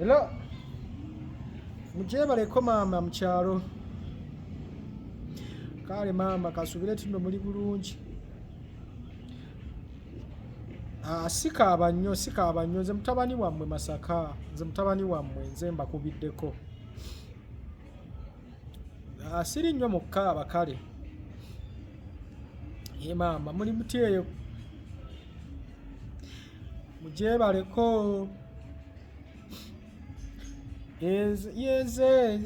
Hello. Mukyebaleko maama mu kyalo. Kale maama kasubire tuno muli bulungi. Ah, sikaaba nnyo sikaaba nnyo nze mutabani wammwe Masaka nze mutabani wammwe nze mbakubiddeko. Ah, siri nnyo mu kaaba kale. Ye maama muli mutyeyo mugyebaleko yeze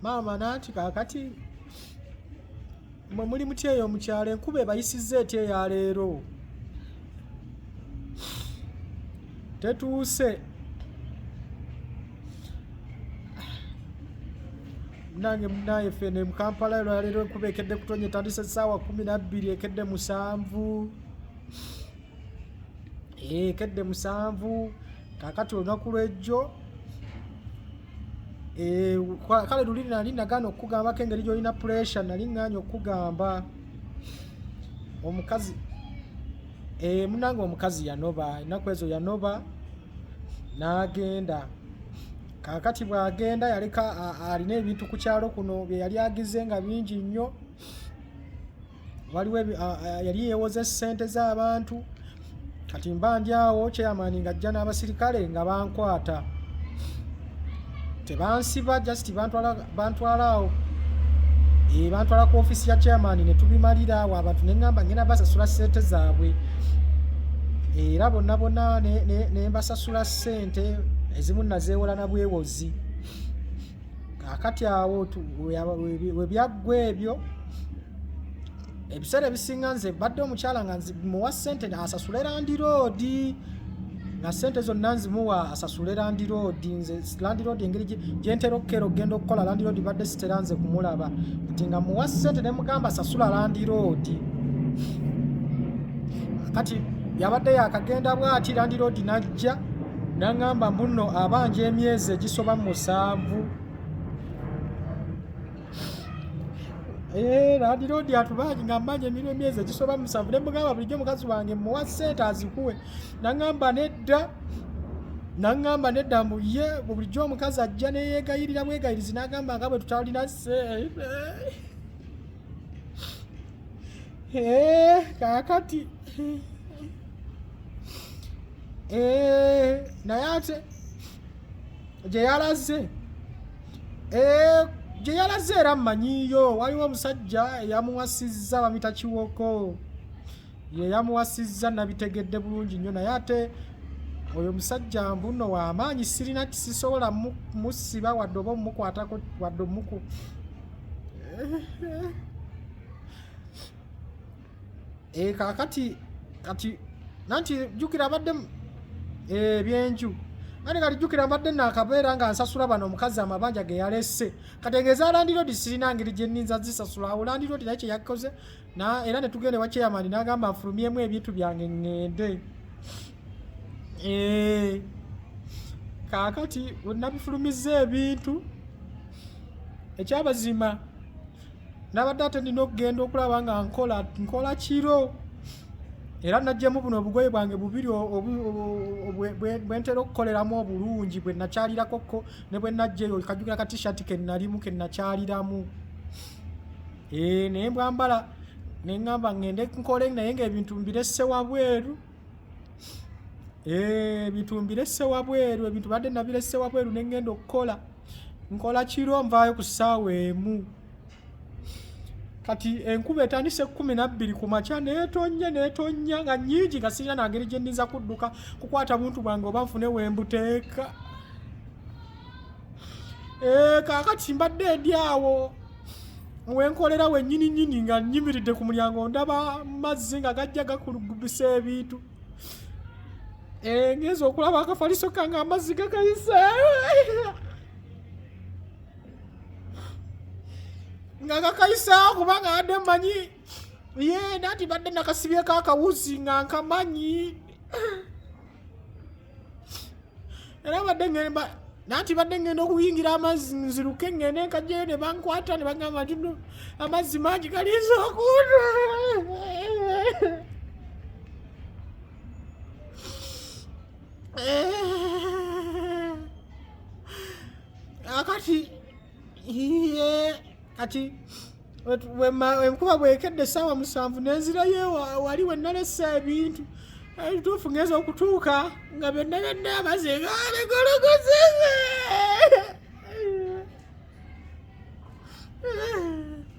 maama nanti kakati mwe muli muti eyo mukyalo enkuba ebayisiza ety eyaleero tetuuse nange munaye fene mu kampala olwaleero enkuba ekedde kutonya etandise saawa kumi nabbiri ekedde musanvu eh, ekedde musanvu kakati olunaku lwejjo eh, kale luli nali nagana okukugambako engeri gyolina puresure nali nganya okukugamba omukazi eh, munange omukazi yanoba enaku ezo yanoba n'agenda kaakati bw'agenda yaleka alina ebintu ku kyalo kuno bye yali agize nga bingi nnyo waliwo yali yeewoza essente z'abantu kati mba ndi awo kyeyamaani ng'ajja n'abasirikale nga bankwata tebansiba just bantwala bantwala awo e eh, bantwala ku office ya chairman ne tubimalira awo abantu ne ngamba ngena basasula sente zaabwe eh, era bonna bonna ne, ne, ne mbasasula sente ezimu nazeewola na bwewozi kakati awo webyaggwa ebyo ebiseera ebisinga nze badde omukyala nga muwa sente asasule landiroodi nga sente zonna nzimuwa asasule landiroodi nze landiroodi engeri gyentera okukera okugenda okukola landiroodi badde sitera nze kumulaba nti nga muwa sente ne mugamba asasula landiroodi kati yabadde yakagenda bwati landiroodi najja nangamba mbuno abanja emyezi egisoba musanvu Eh, landiroodi atubangi nga mmanya emirwa emyezi egisoba musanvu ne mugamba bulijjo mukazi wange muwa ssente azikuwe naŋŋamba nedda naŋŋamba nedda mbu ye bulijjo omukazi ajja neyeegayirira bwegayirizi n'agamba nga bwe tutalina ssente eh, kaakati eh, naye ate gye yalaze Eh, gye yalaze era mmanyiiyo waliwo omusajja eyamuwasizza bamita kiwoko ye yamuwasizza nabitegedde bulungi nnyo naye ate oyo musajja mbuno wamaanyi sirina kisisobola musiba wadde oba omukwatako wadde omuku eh, kakati kati nanti jukira abadde eh, ebyenju ate kati jukira mbadde nakabeera nga nsasula bano omukazi amabanja ge yalese kategeeza landirodi sirina ngeri gye ninza zisasula awo landirodi naye kye yakoze era ne tugenda ewa chairman n'agamba afulumyemu ebintu byange ŋŋende eh, kaakati wenabifulumiza ebintu ekyabazima nabadde ate nina okugenda okulaba nga nkola nkola kiro era najjemu buno obugoye bwange bubiri bwentera okukoleramu obulungi bwe nakyarirako ne bwe najjeyo kajukira ka t-shirt ke nalimu ke nakyaliramu eh, naye mbwambala ne ŋŋamba ŋŋende nkole naye ng'ebintu mbiresse wabweru eh, ebintu mbiresse wabweru ebintu badde nabiresse wabweru ne ŋŋenda okukola nkola kiro nvaayo ku ssaawa emu kati enkuba etandise kumi nabbiri ku makya netonnya netonnya nga nyingi nga sirina nangeri gye ndinza kudduka kukwata buntu bwange oba nfune wembuteeka eh, kakati mbadde ndi awo wenkolera wenyini nyini nga nyimiridde ku mulyango ndaba mazzi nga gajja gakulugubisa ebintu Eh, ngenza okulaba akafaliso kange amazzi gakayise nga gakayiseawo kubanga adde manyi ye nati badde nakasibyeko akawuzi nga nkamanyi era badde ngemba nanti badde ngenda okuyingira amazzi nziruke ngende nkajjayo ne bankwata ne bagamba nti no amazzi mangi galiiza okuuta akati iye kati enkuba bwekedde essaawa musanvu nenzirayo wali wenalesa ebintu ebituufu ngeza okutuuka nga byonna byonna amaze galegologoze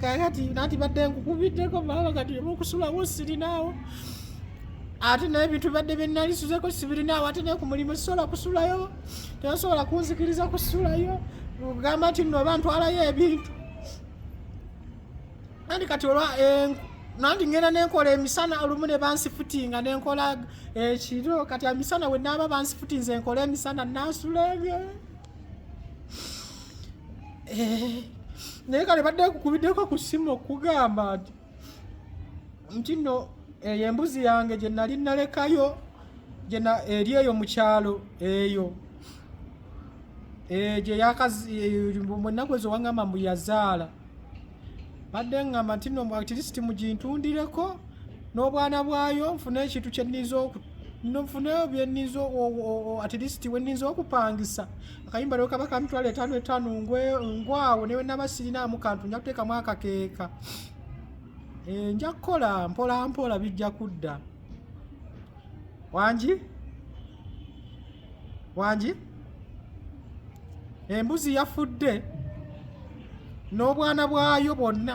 kakati nati badde nkukubiddeko maama kati omukusulawo sirinaawo ate naye bintu badde byenalisuzeeko sibirinaawo ate naye ku mulimu sisobola kusulayo tebasobola kunzikiriza kusulayo ogamba nti nno oba ntwalayo ebintu nandi kati olwa eh, nandi ngenda nenkola emisana olumu ne bansifutinga nenkola ekiro eh, kati emisana we naaba bansifutinze enkola emisana nasula ebyo eh, naye kale badde kukubiddeko ku simu okugamba nti nti no eyo embuzi yange gye nali nalekayo eri eyo mu kyalo eyo eh, gye yakaennaku eh, ezo wangamba mbu yazaala badde ngamba nti no atleast mugintundireko n'obwana bwayo nfune ekintu kyenniza nfune byenniza atleast wenniza okupangisa akayimba leo kaba kamitwalo etaano etaano ngwawo newe naba sirinaamu kantu nja kuteekamu akakeeka eh, nja kukola mpola mpola bijja kudda wangi wangi embuzi yafudde n'obwana bwayo bwonna